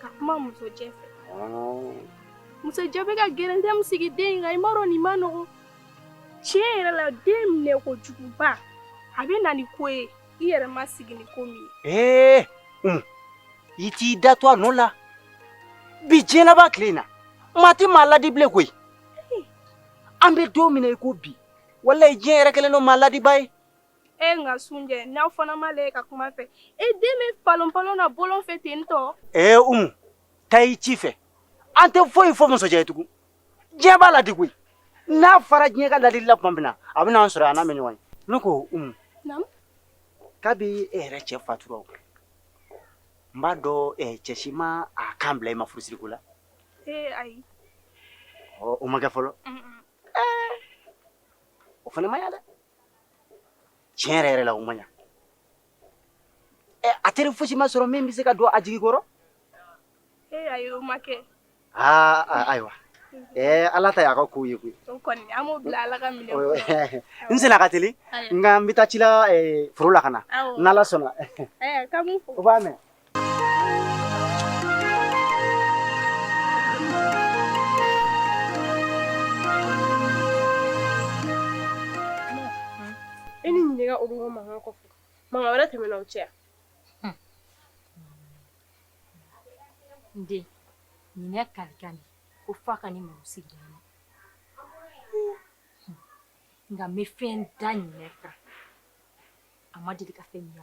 ka kuma musojɛ fɛ musojɛ bɛ ka gɛrɛntɛ min sigi den in kan i m'a dɔn nin man nɔgɔn tiɲɛ yɛrɛ la den minɛ kojuguba a bɛ na ni ko ye i yɛrɛ ma sigi ni ko min ye i t'i da to a nɔ la bi diɲɛlaban tile in na maa tɛ maa ladi bilen koyi an bɛ don min na i ko bi walayi diɲɛ yɛrɛ kɛlen don maa ladibaa ye E nka sunjɛ n'aw fana m'a lajɛ ka kuma a fɛ e den bɛ palon palon na bɔlɔn fɛ ten tɔ. Ee Umu taa i ci fɛ an tɛ foyi fɔ musojɛ ye tugun diɲɛ b'a la de koyi n'a fara diɲɛ ka ladili la tuma min na a bɛ n'an sɔrɔ yan n'a mɛ ɲɔgɔn ye ne ko Umu kabi e yɛrɛ cɛ fatura o n b'a dɔn eh, cɛ si ma a kan bila i ma furusiri ko la ee ayi ɔ o ma kɛ fɔlɔ o fana ma ɲa dɛ tiɲɛ yɛrɛ yɛrɛ la o ma ɲa a teri fosi ma sɔrɔ min bɛ se ka don a jigi kɔrɔ ee ayi o ma kɛ aa ayiwa ɛɛ ala ta y'a ka kow ye koyi o kɔni an b'o bila ala ka minɛn kɔnɔ n senna ka teli nka n bɛ taa ci la foro la ka na n'ala sɔnna k'an b'u fo o b'a mɛn E ni ɲininka o bɛ mankan kɔ mankan wɛrɛ tɛmɛna o cɛ n den ɲinɛ kalikan de ko f'a ka ne mago sigi ɲinɛ nka n bɛ fɛn da ɲinɛ kan a ma deli ka fɛn ɲinɛ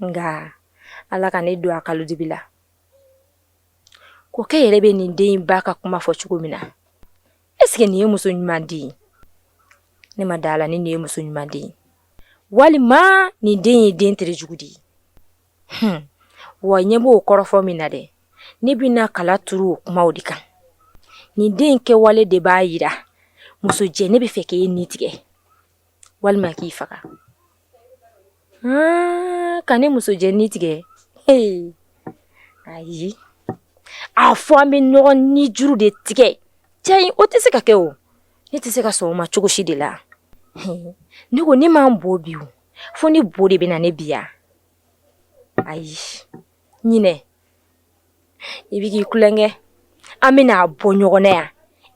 nka ala ka ne don a kalo dibi la kɔkɛ yɛrɛ bɛ nin den ba ka kuma fɔ cogo min na eseke nin ye muso ɲuman den ye ne ma da a la ni nin ye muso ɲuman den ye walima nin den ye den tere jugu de ye wa ɲɛ b'o kɔrɔfɔ min na dɛ ne bɛna kala turu o kumaw de kan nin den kɛwale de b'a jira musojɛ ne b'a fɛ k'e ni tigɛ walima k'i faga ka ne musojɛ ni tigɛ ayi a fɔ an bɛ ɲɔgɔn nijuru de tigɛ cɛ o tɛ se ka kɛ o ne tɛ se ka sɔn o ma cogo si de la ne ko ne m'an bɔ bi fo ni bo de bɛ na ne bi yan ayi ɲinɛ i bɛ k'i kukɛ an bɛ n'a bɔ ɲɔgɔn na yan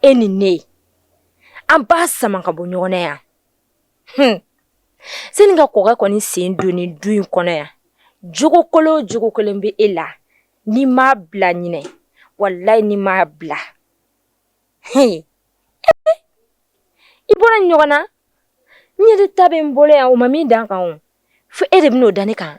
e ni ne an b'a sama ka bɔ ɲɔgɔn na yan h sani ka kɔkɛ kɔni sen don nin du in kɔnɔ yan jogokolon jugu kelen bɛ e la n'i m'a bila ɲinɛ walayi n'i m'a bila h i bɔra ɲɔgɔn na ne de ta bɛ n bolo yan u ma min da n kan fo e de b'o da ne kan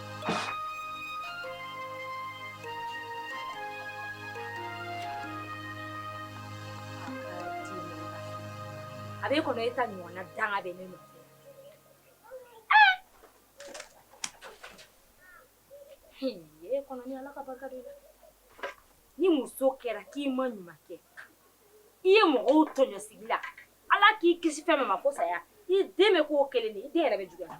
A bɛ kɔnɔ e ta ɲɔgɔn na danga bɛ ne nɔfɛ kɔnɔ ni Ala ka barika don ni muso kɛra k'i ma ɲuman kɛ i ye mɔgɔw tɔɲɔ sigi la Ala k'i kisi fɛn min ma ko saya i den bɛ k'o kelen de ye i den yɛrɛ bɛ juguya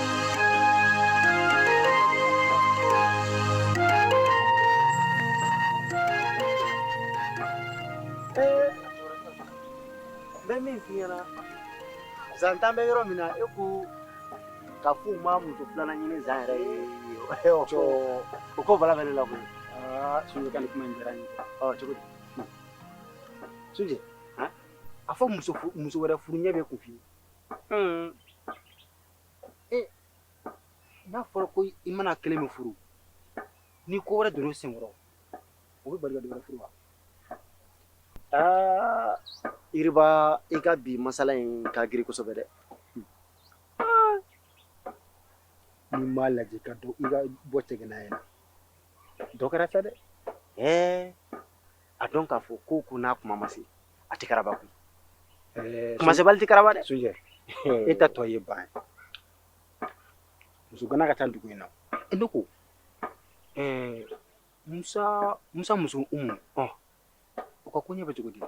bɛ min f'i ɲɛna zan ta bɛ yɔrɔ min na e ko ka f'u ma muso filanan ɲini zan yɛrɛ ye o ko bala bɛ ne la koyi sunjɛ ka nin kuma in diyara n ye cogo di sunjɛ a fɔ muso wɛrɛ furu ɲɛ bɛ kun f'i ye ee n'a fɔra ko i mana kelen min furu ni ko wɛrɛ donna senkɔrɔ o b'i bali ka dɔ wɛrɛ furu wa aa yiriba i ka bi masala in ka girin kosɛbɛ dɛ n'i m'a lajɛ ka dɔ i ka bɔ tɛgɛnaya in na dɔ kɛra sa dɛ ɛɛ a dɔn k'a fɔ ko ko n'a tuma ma se a tɛ karaba koyi tuma sebali tɛ karaba dɛ su e ta tɔ ye ban muso kana ka taa dugu in na e ne ko musa musa muso umu ɔ u ka koɲɛ bɛ cogo di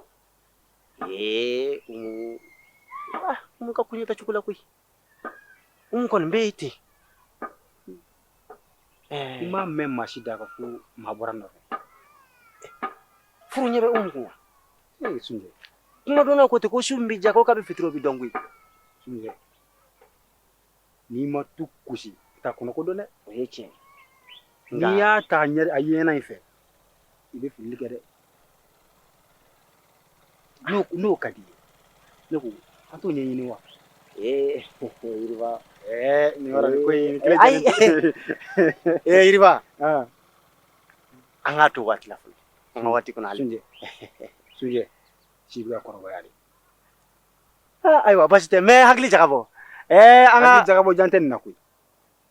ee umu ah umu ka koɲɛ tɛ cogo la koyi umu kɔni bɛ yen ten n m'a mɛn maa si da ka ko maa bɔra nɔfɛ furu ɲɛ bɛ umu kun ee sunjɛ kuma dɔnna ko ten ko su min bɛ diya ko kabi fitiri o bɛ dɔn koyi sunjɛ n'i ma tu gosi i t'a kɔnɔko dɔn dɛ o ye tiɲɛ n'i y'a ta a ɲɛ a yeɲɛna in fɛ i bɛ fili kɛ dɛ n'o ka di ne ko an t'o ɲɛɲini wa ee yiriba ee nin yɔrɔ nin ko in kile ayi ee yiriba an k'a to waati la fɔlɔ an ka waati kɔnɔ ale sunjɛ sunjɛ si bɛ ka kɔrɔbaya de ayiwa basi tɛ n bɛ hakili jagabɔ ee an ka jagabɔ jan tɛ nin na koyi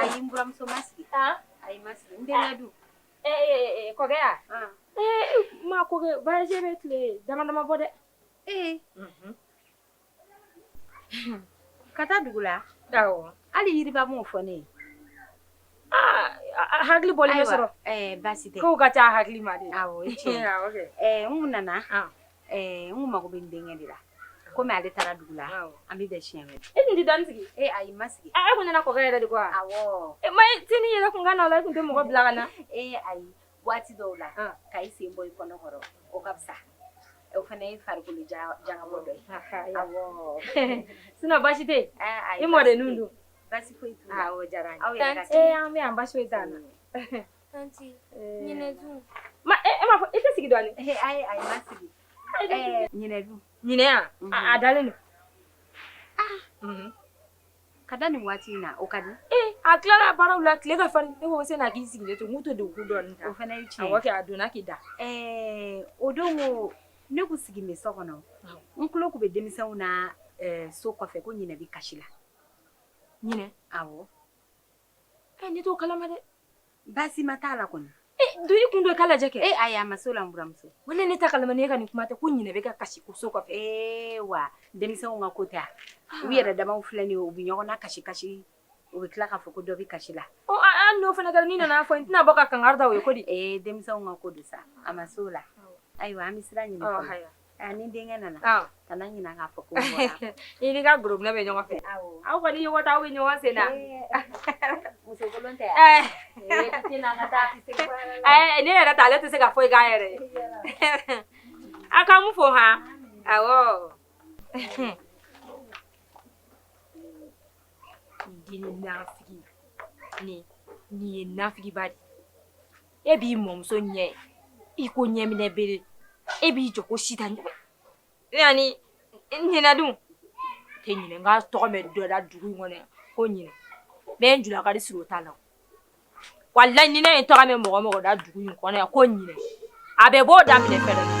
Ayiuramuso ma sigi ayi ma sigi dun kɔ ma ko bɛ tile damadama bɔ dɛ ee ka taa dugu la hali yiriba m'o fɔ ne hakili bɔ sɔrɔ basi ka taa hakili ma de nana Ɛɛ n mago bɛ n denkɛ de la kɔmi ale taara dugu la an bɛ bɛn si mɛn e tun tɛ dan sigi e a i ma sigi e ko nana kɔ yɛrɛ de ko e ma t ni yɛrɛ tun ka na la tun tɛ mɔgɔ bila ka na e a waati dɔw la ka i sen bɔ i kɔnɔkɔrɔ o ka fisa o fana ye farikolo janbɔ dɔ ye sin basi tɛ e mɔden ninnu don basi foyi diyara aw an bɛ an basi foyi' na Ma e m'a fɔ i tɛ sigi dɔɔnin ayi ayi ma sigi ɲinɛ dun ɲinɛ a dalen don ka da nin waati in na o ka di a tilala baaraw la tile ka farin ne ko sanni k'i sigilen to n'u tɛ don k'u da dɔɔnin o fana ye tiɲɛ kɛ a donna k'i da o don ko ne tun sigilen bɛ so kɔnɔ n tulo tun bɛ denmisɛnw na so kɔfɛ ko ɲinɛ bɛ kasi la ɲinɛ aw Ɛ ne t'o kalama dɛ baasi ma t'a la kɔni don i kun don k'a lajɛ kɛ e ayi a ma se o la n buramuso ko ne ne t'a kalama ne ka nin kuma tɛ ko ɲinɛ bɛ ka kasi ko so kɔfɛ ee wa denmisɛnw ka ko tɛ a u yɛrɛ damaw filɛ nin ye u bɛ ɲɔgɔn na kasi kasi u bɛ tila k'a fɔ ko dɔ bɛ kasi la ɔ an n'o fana kɛra ne nana fɔ n tɛna bɔ ka kankari da u ye ko di ee denmisɛnw ka ko don sa a ma se o la ayiwa an bɛ sira ɲini A ni denkɛ nana ka ɲin k'a fɔ ko i ni ka gna bɛ ɲɔgɔn fɛ aw kɔni ɲɔgɔn taa bɛ ɲɔgɔn sen la ne yɛrɛ ta ale tɛ se ka foyi k'a yɛrɛ a ka mun fɔ h nin ye nafigiba de e b'i mɔmuso ɲɛ i ko ɲɛminɛ bere e b'i jɔ ko sita ɲɔgɔn yanni ɲinɛ dun tɛ ɲinɛ nka tɔgɔ bɛ dɔ la dugu in kɔnɔ ko ɲinɛ bɛɛ n julakari siri o t'a la wala ɲinɛ in tɔgɔ bɛ mɔgɔ o mɔgɔ da dugu in kɔnɔ yan ko ɲinɛ a bɛ b'o daminɛ fɛnɛ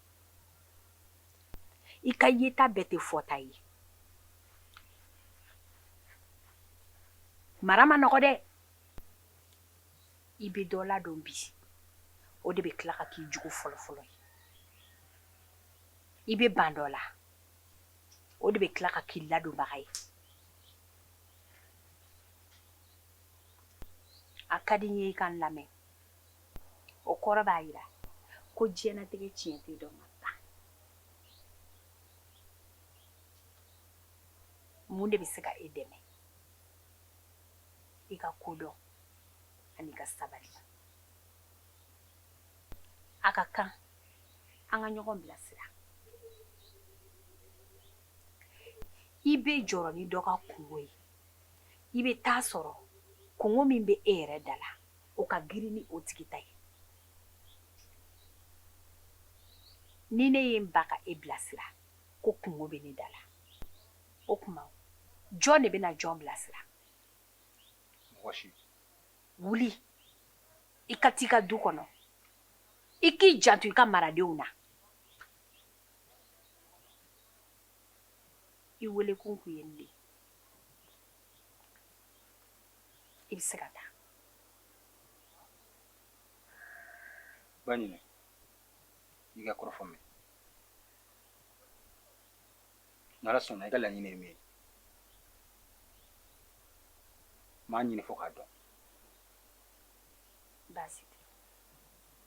i ka yeta bɛɛ tɛ fɔta ye mara man nɔgɔ dɛ i bɛ dɔ ladon bi o de bɛ tila ka k'i jugu fɔlɔfɔlɔ ye i bɛ ban dɔ la o de bɛ tila ka k'i ladonbaga ye a ka di n ye i ka n lamɛn o kɔrɔ b'a jira ko diɲɛnatigɛ tiɲɛ tɛ dɔn ka ban mun de bɛ se ka e dɛmɛ i ka kodɔn ani i ka sabali a ka kan an ka ɲɔgɔn bilasira i bɛ jɔrɔ ni dɔ ka kunko ye i bɛ taa sɔrɔ kunko min bɛ e yɛrɛ da la o ka girin ni o tigi ta ye ni ne ye n ban ka e bilasira ko kunko bɛ ne da la o tuma jɔn de bɛna jɔn bilasira mɔgɔ si wuli i ka t'i ka du kɔnɔ i k'i janto i ka maradenw na i welekun kun ye nin de ye i bɛ se ka taa ba ɲinɛ i ka kɔrɔfɔ mɛn n'ala sɔnna i ka laɲini ye min ye n b'a ɲini fo k'a dɔn baasi tɛ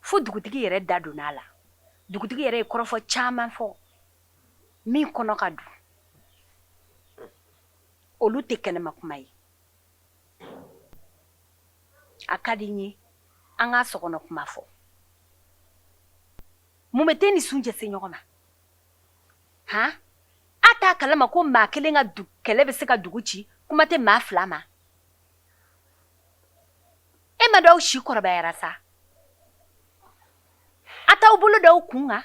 fo dugutigi yɛrɛ da donna a la dugutigi yɛrɛ ye kɔrɔfɔ caman fɔ min kɔnɔ ka dun olu tɛ kɛnɛma kuma ye a ka di n ye an ka sokɔnɔ kuma fɔ mun bɛ tɛ ni suncɛ se ɲɔgɔn ma han a t'a kalama ko maa kelen ka kɛlɛ bɛ se ka dugu ci kuma tɛ maa fila ma e ma dɔw si kɔrɔbayara sa a t'aw bolo da aw kun kan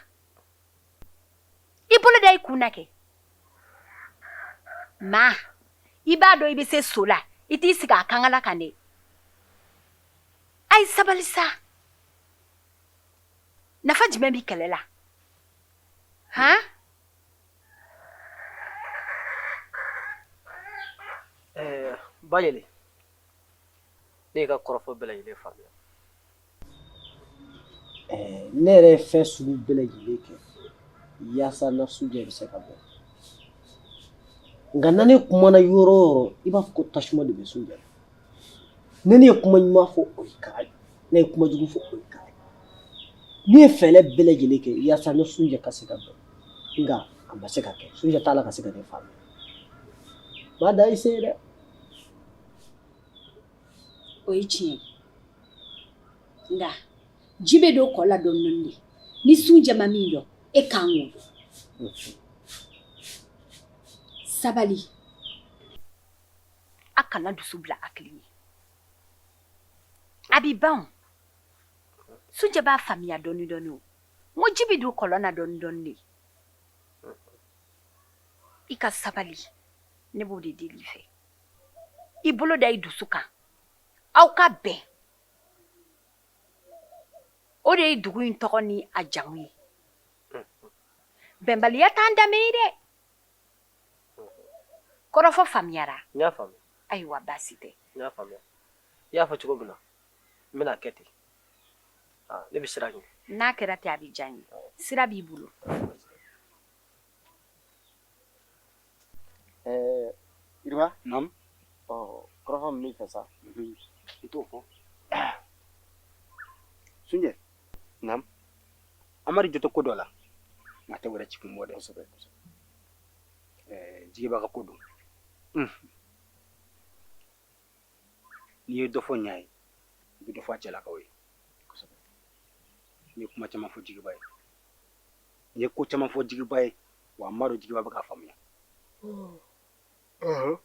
i bolo da i kun na kɛ ma i b'a dɔn i bɛ se so la i t'i sigi a kankala kan dɛ a ye sabali sa nafa jumɛn bɛ kɛlɛ la han ba yɛlɛ ne ka kɔrɔfɔ bɛɛ lajɛlen faamuya ne yɛrɛ ye fɛn sugu bɛɛ lajɛlen kɛ yaasa n ni suncɛ bɛ se ka bɛn nka na ne kumana yɔrɔ o yɔrɔ i b'a fɔ ko tasuma de bɛ suncɛ na ne ye kuma ɲuman fɔ o ye kara ye ne ye kuma jugu fɔ o ye kara ye ne ye fɛɛrɛ bɛɛ lajɛlen kɛ yaasa ne ni suncɛ ka se ka bɛn nka a ma se ka kɛ suncɛ t'a la ka se ka ne faamuya maa dan i se ye dɛ o ye tiɲɛ ye nka ji bɛ don kɔ la dɔɔni dɔɔni de ni sunjɛ ma min dɔn e kan k'o dɔn sabali a kana dusu bila hakili ɲɛ a bɛ ban o sunjɛ b'a faamuya dɔɔni dɔɔni o n ko ji bɛ don kɔlɔn na dɔɔni dɔɔni de i ka sabali ne b'o de deli i fɛ i bolo da i dusu kan aw ka bɛn o de ye dugu in tɔgɔ ni a jamu ye bɛnbaliya t'an danbe ye dɛ kɔrɔfɔ faamuyara n y'a faamuya ayiwa baasi tɛ n y'a faamuya i y'a fɔ cogo min na n bɛn'a kɛ ten ah, ne bɛ sira ɲini n'a kɛra ten a bɛ diya n ye sira b'i bolo Jeliba kɔrɔfɔ b'i fɛ sa i t'o fɔ sunjɛ Amari jo tɛ ko dɔ la a tɛ wɛrɛ ci kun bɔ dɛ kosɛbɛ jigiba ka ko don n'i ye dɔ fɔ n ye i bɛ dɔ fɔ cɛlakaw ye n ye kuma caman fɔ jigiba ye N ye ko caman fɔ jigiba ye wa n b'a dɔn jigiba bɛ k'a faamuya Ɔhɔn.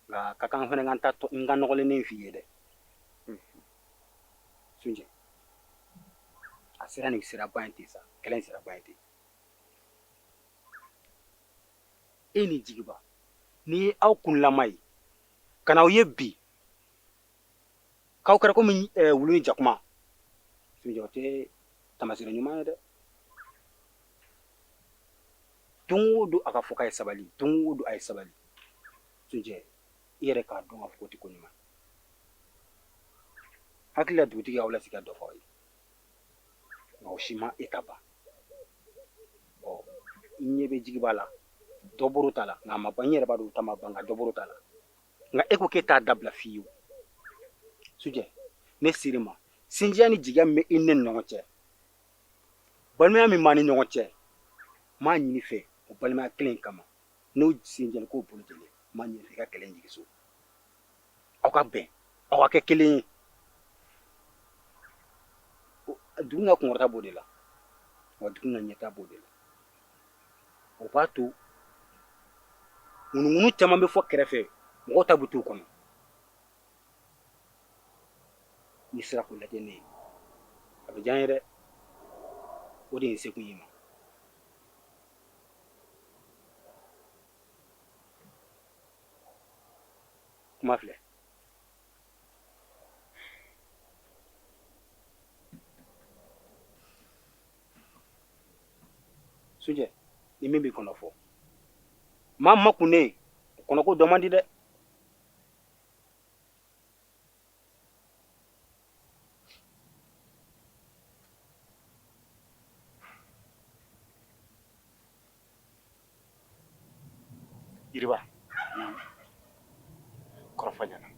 nka a ka kan n fana ka n ta tɔ- n ka nɔgɔlennen f'i ye dɛ Sunjɛ a sera nin siraba in ten sa kɛlɛ in siraba in ten e ni jigiba ni ye aw kunlama ye ka na aw ye bi k'aw kɛra komi eh, wulu ni jakuma sunjɛ o tɛ taamaseere ɲuman ye dɛ don o don a ka fɔ k'a ye sabali don o don a ye sabali sunjɛ i yɛrɛ k'a dɔn k'a fɔ k'o tɛ ko ɲuman hakili la dugutigi y'aw lasigi ka dɔ fɔ aw ye nka o si ma e ta ban ɔ n ɲɛ bɛ jigiba la dɔ bɔr'o ta la nka a ma ban n yɛrɛ b'a dɔn o ta ma ban nka dɔ bɔr'o ta la nka e ko k'e t'a dabila fewu sunjɛ ne ser'i ma sinjiya ni jigiya min bɛ i ne ni ɲɔgɔn cɛ balimaya min b'an ni ɲɔgɔn cɛ n b'a ɲini i fɛ o balimaya kelen kama n'o sinjɛli k'o bolo jeli n b'a ɲini i fɛ i ka kɛlɛ jigin so aw ka bɛn aw ka kɛ kelen ye dugu ka kunkɔrɔta b'o de la wa dugu ka ɲɛta b'o de la o b'a to ŋunuŋunu caman bɛ fɔ kɛrɛfɛ mɔgɔw ta bɛ t'u kɔnɔ n'i sera k'o lajɛ ne ye a bɛ diya n ye dɛ o de ye n se kun y'i ma kuma filɛ sujɛ ni min b'i kɔnɔ fɔ maa makunnen kɔnɔko dɔn man di dɛ yiriba kɔrɔfɔ ɲɛna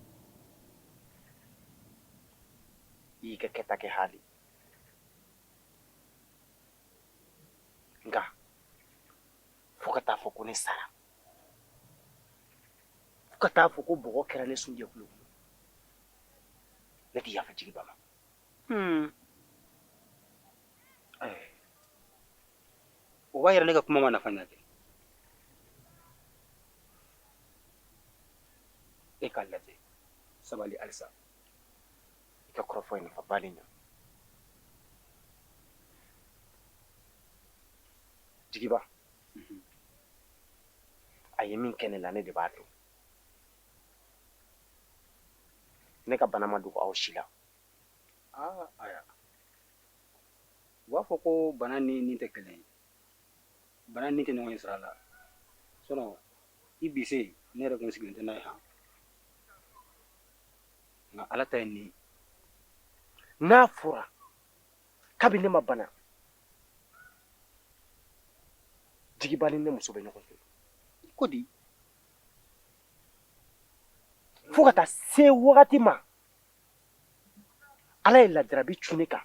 i y'i ka kɛta kɛ haali nka fo ka taa fɔ ko ne sara fo ka taa fɔ ko bɔgɔ kɛra ne sun jɛkulu kɔnɔ ne tɛ yafa jigiba ma hmm. eh. o b'a yira ne ka kuma ma nafa ɲɛ kɛ e k'a lajɛ sabali halisa i ka kɔrɔfɔ ye nafaba de ɲa jigiba a ye min kɛ ne la ne de b'a dɔn ne ka bana ma dogo aw si la aa aya u b'a fɔ ko bana ni ni tɛ kelen ye bana ni tɛ ɲɔgɔn ye sira la sɔnɔ i bi se ne yɛrɛ kun sigilen tɛ n'a ye han nka ala ta ye nin ye n'a fɔra kabi ne ma bana jigiba ni ne muso bɛ ɲɔgɔn fɛ ko di fo ka taa se wagati ma ala ye lajarabi cun ne kan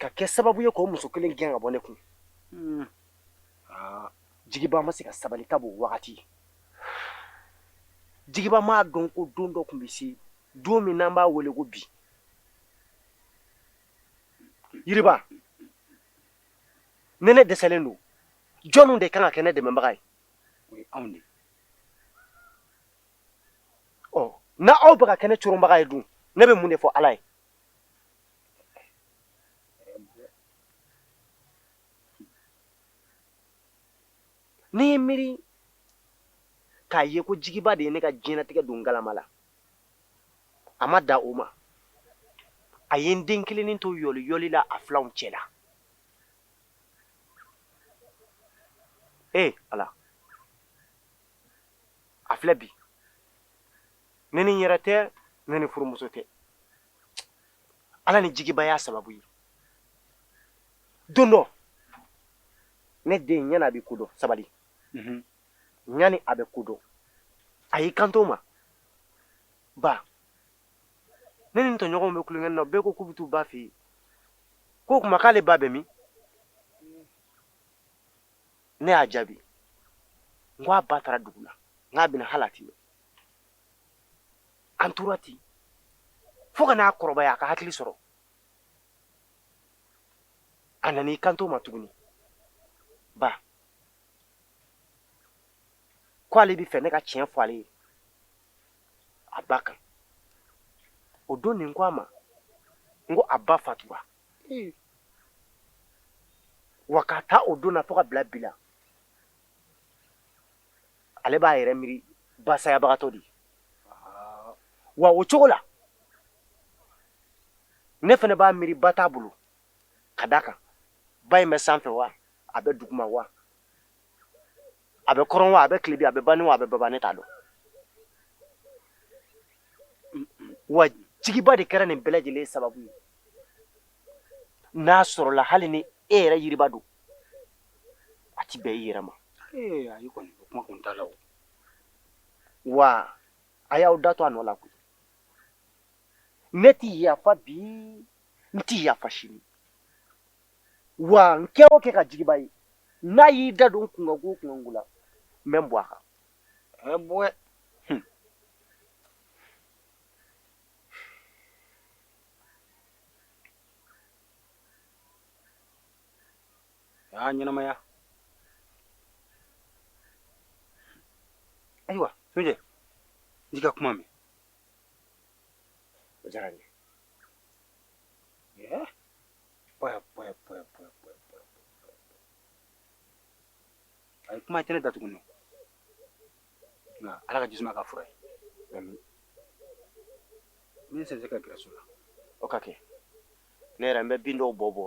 ka kɛ sababu ye k'o muso kelen gɛn ka bɔ ne kun hmm. ah, jigiba ma se ka sabali ka b'o wagati jigiba m'a dɔn ko don dɔ tun bɛ se don min n'an b'a wele ko bi yiriba ne ne dɛsɛlen don jɔnw de kan ka kɛ ne dɛmɛbaga ye o ye anw de ɔ na aw bɛ ka kɛ ne coronbaga ye dun ne bɛ mun de fɔ ala ye n'i y'i miiri k'a ye ko jigiba de ye ne ka diɲɛnatigɛ don galama la a ma da o ma a ye n den kelennin to yɔli yɔli la a filanw cɛ la ee ala a filɛ bi ne ni n yɛrɛ tɛ ne ni furumuso tɛ ala ni jigiba y'a sababu ye don dɔ ne den yani a bɛ ko dɔn sabali mhm. yani a bɛ ko dɔn a y'i kanto n ma ba ne ni n tɔɲɔgɔnw bɛ tulonkɛ na bɛɛ ko k'u bɛ t'u ba fɛ yen k'o tuma k'ale ba bɛ min ne y'a jaabi n ko a ba taara dugu la n k'a bɛ na hali a ti mɛn an tora ten fo ka n'a kɔrɔbaya a ka hakili sɔrɔ a nana i kanto n ma tuguni ba ko ale bɛ fɛ ne ka tiɲɛ fɔ ale ye a ba kan o don ne ko a ma n ko a ba fatura wa k'a ta o don na fo ka bila bi la ale b'a yɛrɛ miiri basayabagatɔ ye wa o cogo la ne fana b'a miiri ba t'a bolo ka d'a kan ba in bɛ sanfɛ wa a bɛ duguma wa a bɛ kɔrɔn wa a bɛ tilebin a bɛ banin wa a bɛ baba ne t'a dɔn wa jigiba de kɛra nin bɛɛ lajɛlen sababu ye n'a sɔrɔla hali ni e yɛrɛ yiriba don a ti bɛn i yɛrɛ ma ayi kɔni o kuma kun t'a la o wa a y'aw da to a nɔ la koyi ne ti yafa bi n ti yafa sini wa n kɛ o kɛ ka jigiba ye n'a y'i da don kunkanko o kunkanko la n bɛ n bɔ a kan ɛ bɔɛ hmm. aa ɲɛnamaya ayiwa sunjɛ n y'i ka kuma mɛn o diyara n ye a ye kuma kɛnɛ datugu nɔ nka ala ka jisuma kɛ fura ye min se ka gɛrɛ so la o ka kɛ ne yɛrɛ n bɛ bin dɔw bɔ bɔ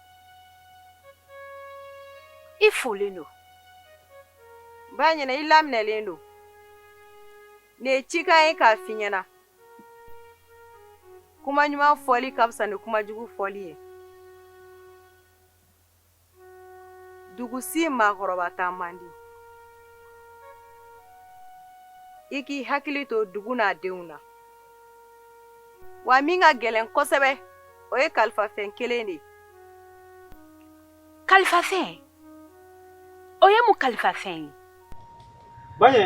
I folen don ba ɲɛna i laminɛlen don ne ye cikan ye k'a f'i ɲɛna kuma ɲuman fɔli ka fisa ni kuma jugu fɔli ye dugu si maakɔrɔba taa man di i k'i hakili to dugu n'a denw na wa min ka gɛlɛn kosɛbɛ o ye kalifafɛn kelen de ye kalifafɛn o ye mun kalifafɛn ye baɲɛ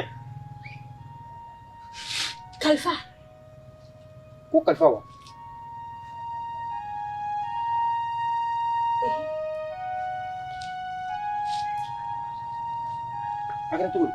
kalifa ko kalifa wa a kɛra cogo di